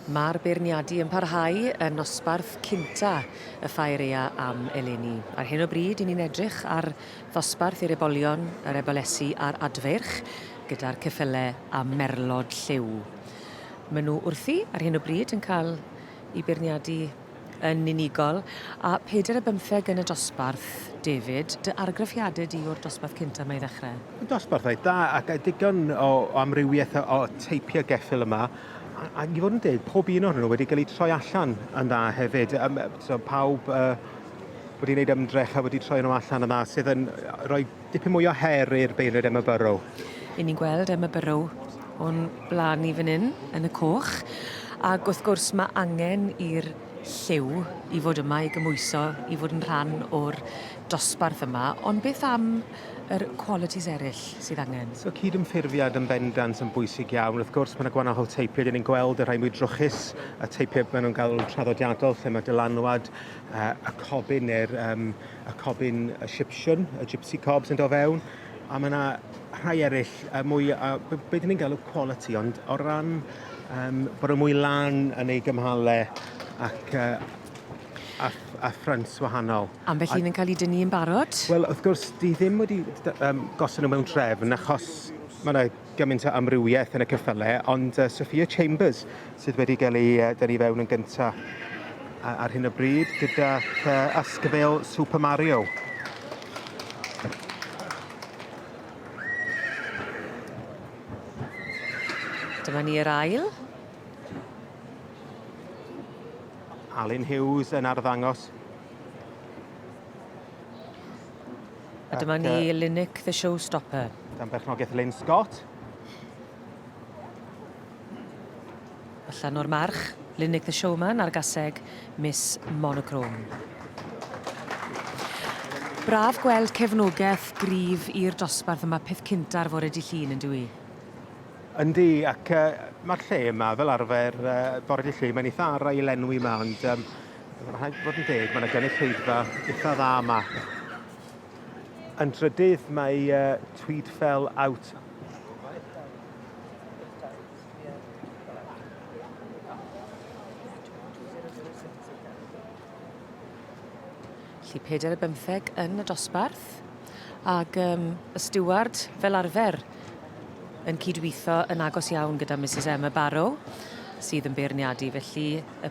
Mae'r beirniadu yn parhau yn nosbarth cynta y Ffaerea am eleni. Ar hyn o bryd, i ni'n edrych ar ddosbarth i'r ebolion, yr ebolesi a'r adfeirch, gyda'r ceffylau a merlod lliw. Maen nhw wrthi ar hyn o bryd yn cael i beirniadu yn unigol, a phedair a bymtheg yn y dosbarth. David, dy argraffiadau di o'r dosbarth cyntaf mae i ddechrau? Y dosbarth oedd da, ac a digon o, o amrywiaeth o, o teipio geffyl yma, a, a i fod yn deg, pob un ohonyn nhw wedi cael eu troi allan yn dda hefyd. Um, so, pawb uh, wedi gwneud ymdrech a wedi troi nhw allan yn dda, sydd yn rhoi Dipyn mwy o her i'r beirniaid Emma Burrow. Ry'n ni'n gweld Emma Burrow o'n blaen ni fan 'yn, yn y coch, ac wrth gwrs ma' angen i'r lliw i fod yma i gymhwyso i fod yn rhan o'r dosbarth yma, ond beth am yr qualities eryll sydd angen? So cydymffurfiad yn bendant yn bwysig iawn. Wrth gwrs ma' 'na gwanahol teipie, 'dyn ni'n gweld y rhai mwy drwchus, y teipie ma' nhw'n galw'n traddodiadol lle ma' dylanwad y cobyn neu'r um, y cobyn y Sipsiwn, y Gypsy Cob sy'n dod fewn, a mae yna rhai eraill uh, mwy, uh, be, be dyn ni'n galw quality, ond o ran um, bod y mwy lan yn ei gymhalau ac uh, a, a ffrynt wahanol. Am beth un yn cael ei dynnu yn barod? Wel, wrth gwrs, di ddim wedi um, gosod nhw mewn trefn achos mae yna gymaint o amrywiaeth yn y ceffyle, ond uh, Sophia Chambers sydd wedi cael ei uh, dynnu fewn yn gyntaf ar hyn o bryd gyda uh, asgfeil Super Mario. Dyma ni yr ail. Alun Hughes yn arddangos A dyma ni, Linic the Showstopper. Gan berchnogaeth Lynn Scott. Allan o'r march, Linic the Showman ar gaseg Miss Monochrome. Braf gweld cefnogaeth grif i'r dosbarth yma peth cynta'r fore di llun yn dwi. Yndi, ac uh, mae'r lle yma fel arfer uh, bore di llun, mae'n eitha ara i lenwi yma, ond um, Mae rhaid bod yn deg, mae yna gynulleidfa eitha dda yma. Yn drydydd mae uh, Tweed Fell Out. Felly peder y bymtheg yn y dosbarth ac um, y steward fel arfer yn cydweithio yn agos iawn gyda Mrs Emma Barrow sydd yn beirniadu felly y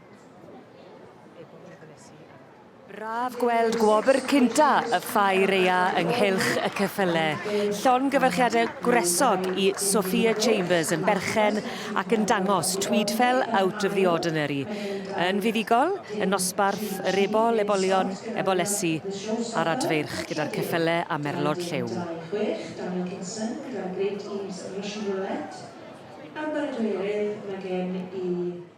Braf gweld gwobr cynta y Ffair Ea ynghylch y ceffyle. Llongyfarchiadau gwresog i Sophia Chambers yn berchen ac yn dangos Tweedfell Out of the Ordinary. Yn fuddugol, y nosbarth, yr ebol, ebolion, ebolesi a'r adfeirch gyda'r ceffyle a merlod lliw. Daniel Kinson gyda'r Great Eaves Mission Roulette. Ar baradwy eryll mae gen i